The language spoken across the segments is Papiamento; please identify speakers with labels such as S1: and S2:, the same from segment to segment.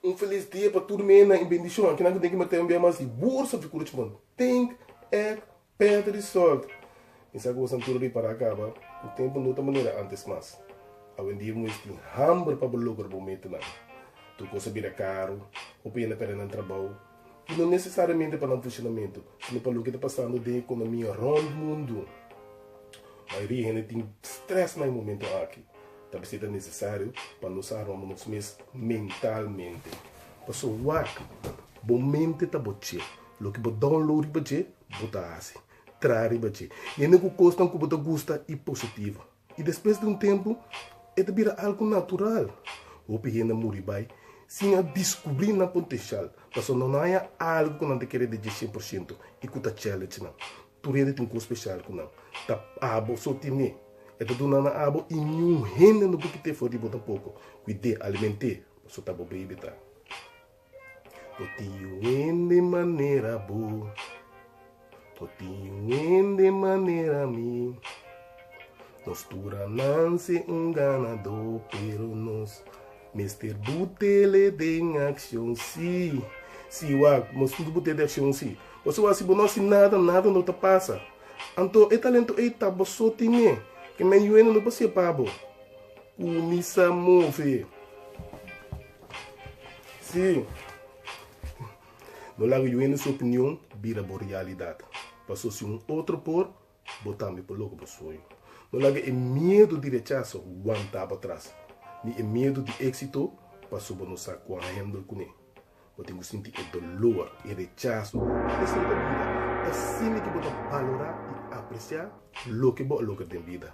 S1: Un felis dia pa tur mena i bendishon ki nan tin ki mete un bia mas di bursa di kurucbon. Tink, Ed. Perde di sort! Mi sa ku bo san tur a bin para kaba. Bo tempu no ta manera antes mas. Awendia bo mes tin hamber pa bo logra bo metanan. Tur kos a bira karu, hopi hende a perde nan trabou, i no nesesariamente pa nan funshonamentu, sino pa loke ta pasando den ekonomia rònt mundu. Mayoria hende tin strès na e momentu aki. Ta mester ta nesesario pa nos a rònt nos mes mentalmente. Pasobra wak bo mente ta bo chef. Loke bo download riba dje, bo ta hasi. Traha riba dje. Yende ku kosnan ku bo ta gusta i positivo. I despues di un tempu e ta bira algu natural. Hopi hende a muri bai sin a diskubri nan potenshial pasobra nan no a haña algu ku nan ta kere di dje shen por shento i ku ta challenge nan. Tur hende tin kos speshal ku nan ta abo so tine. E ta duna nan abo i niun hende no bukit'é for di bo tampoko. Kuid'é, aliment'é, pasobra ta bo baby ta. Bo tin un hende manera bo. Bo tin un hende manera mi. Nos tur a nan ser un ganador pero nos mester butele den accion si. Si wak nos mester bute den accion si. Por eso wak si bo no haci nada nada no ta pasa. Anto e talento ey ta bo so tin e. Ke men yuende no pasia pa bo. Cuminsa move. Sí, bo laga yu hende su opinion bira bo realidad, paso si un otro por, bo tambe por logra bo sueño. No laga e miedo di rechazo wanta bo atras, ni e miedo di éxito, paso bo no sa cu a handle cune. Bo tin cu sinti e dolor, e rechazo. Esei ta bida. Ta asina cu bo ta balora y aprecia loke bo a logra den bida.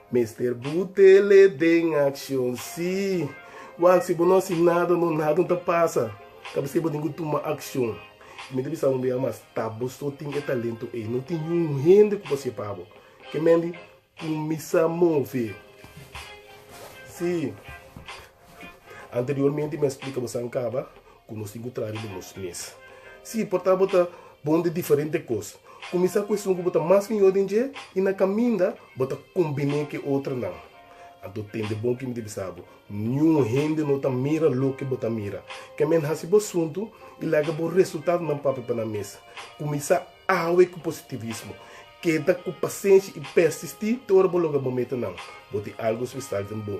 S1: Mester butele den accion si. Wak si bo no haci nada no nada no ta pasa. Ta mester bo tin cu tuma accion. Y mi ta bisa un bia mas ta bo so tin e talento ey. No tin niun hende cu por haci e pa bo. Ke men di cuminsa move si. Anteriormente mi a splika bo san kaba ku nos tin ku traha riba nos mes. Si, por ta bo ta bon di diferente kos. Kuminsá ku esun ku bo ta mas mihó den dje i na kaminda bo ta kombiné ku e otronan. Anto tende bon ku mi ta bisa bo, niun hende no ta mira loke bo ta mira. Kèm en hasi bo asuntu i laga bo resultadonan papia pa nan mes. Kuminsá awe ku positivismo. Keda ku pasenshi i persistí te ora bo logra bo metanan. Bo tin algu spesial den bo.